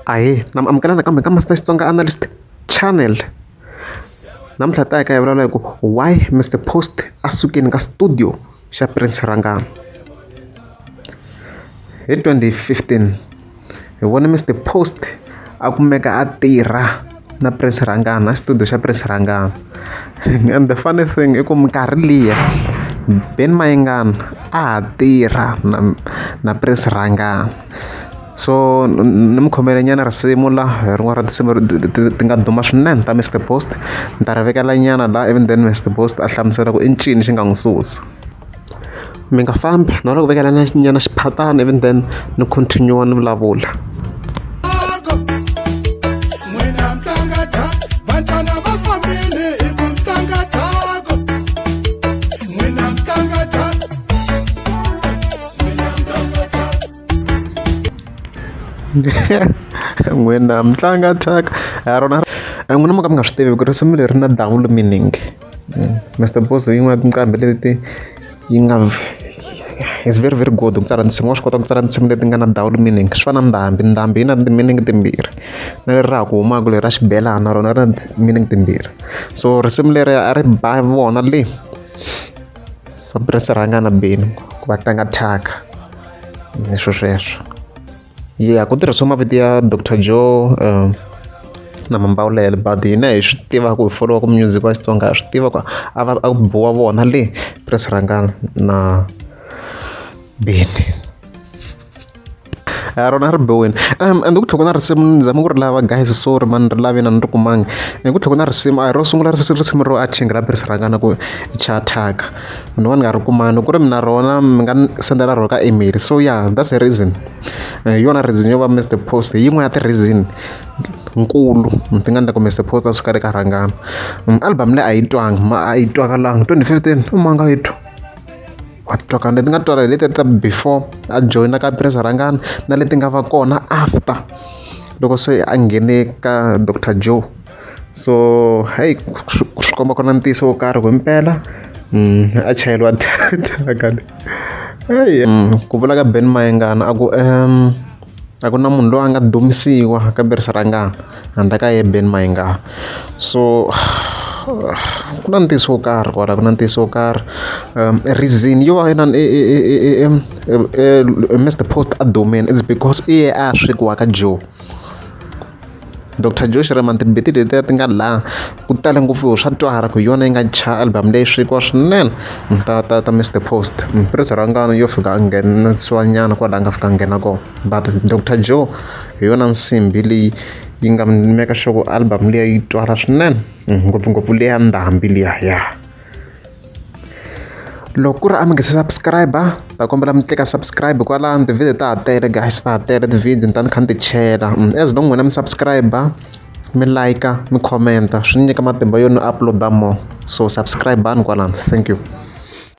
ahee na mi amukela nakambe ka Master Xitsonga Analyst channel namuntlha hi ta ya ka hi vulavula hi ku why Mister Post a sukile ka studio xa Prince Rhangani hi 2015 hi vone Mister Post a kumeka a tirha. na press rhangana na xitudio xa press rhangana and the funny thing i ku minkarhi liya Ben Mayengani a ha tirha na na press rhangana so ni mi khomele nyana risimu la hi rin'wana ra tinsimu ti nga duma swinene ta Mister Post ni ta ri vekela nyana la ivi then Mister Post a hlamusela ku i ncini xi nga n'wi susa. mi nga fambi na loko vekela na nyana xiphatana even then ni continue ni vulavula n'wina mi tlanga thyaka ha rona n'wina mo ka mi nga swi tivi ku risimu leri na double meaning Mister Boss yin'wana ya tinqambi leti yi nga is very very good ku tsala tinsimu wa swi kota ku tsala tinsimu leti nga na double meaning swi fana na ndhambi ndhambi yi na ti-meaning timbirhi na leri ra ha ku humaka leri ra xibelana na rona ri na ti-meaning timbirhi so risimu leri a ri ba vona le va purasi rhanga na beni ku va tlanga thyaka hi swo sweswo. ya ku tirhisiwa mavito ya doctor joe um na mambawulelo but hina hi swi tiva ku hi foliwa ku music wa xitsonga ha swi tiva ku a va a biwa vona le pres rhangana na bini a rona ri biwini um and ku tlhoko na risimu ni zama ku ri lava guys sorry mani ri lavina ni ri kumangi ku tlhoko na risimu a hi ro sungula risimu ro a chingira pres rhangana ku chataka ni va ni nga ri kuma loko ku ri mi na rona mi nga ni sendela rona ka email so ya that's the reason hi yona reason yo va missed the post hi yin'wana ya ti-reason nkulu ni ti nga ni ku missed the post a swi ka ri ka rhangana album leyi a yi twanga ma a yi twakalanga twenty fifteen i manga yi twa wa twakala leti nga twala hi leti ta before a joyina ka presa rhangana na leti nga va kona after loko se a nghene ka doctor joe so heyi swi komba ku na ntiyiso wo karhi himpela a chayeriwa data eyi ku vula ka ben mayengana a ku um a ku na munhu loyi a nga dumisiwa ka berisa ra ngana handla ka ye ben mayengana so ku na ntiyiso wo karhi kwala ku na ntiyiso wo karhi um reason yo va inani mr post a dumile its because i ye a swekiwa ka joe Doctor Joe Shirimani timbiti letiya ti nga laha ku tale ngopfu swa twala ku hi yona yi nga dya album leyi swekiwa swinene ta ta ta Mister Post Prince Rhangani yo fika a nghenisiwa nyana kwala a nga fika a nghena kona but Doctor Joe hi yona nsimbhi leyi yi nga make sure ku album liya yi twala swinene ngopfungopfu leya ndhambi liya ya. loko ku ri a mi nga se subscribe ta kombela mi tleka subscribe kwalano tivhidiyo ta ha tele guys ta ha tele tivhidiyo ni ta ni kha ni ti chela mm, as long n'wina mi subscribe mi like mi commenta swi ni nyika matimba yo ni uploada more so subscribe ni kwalano thank you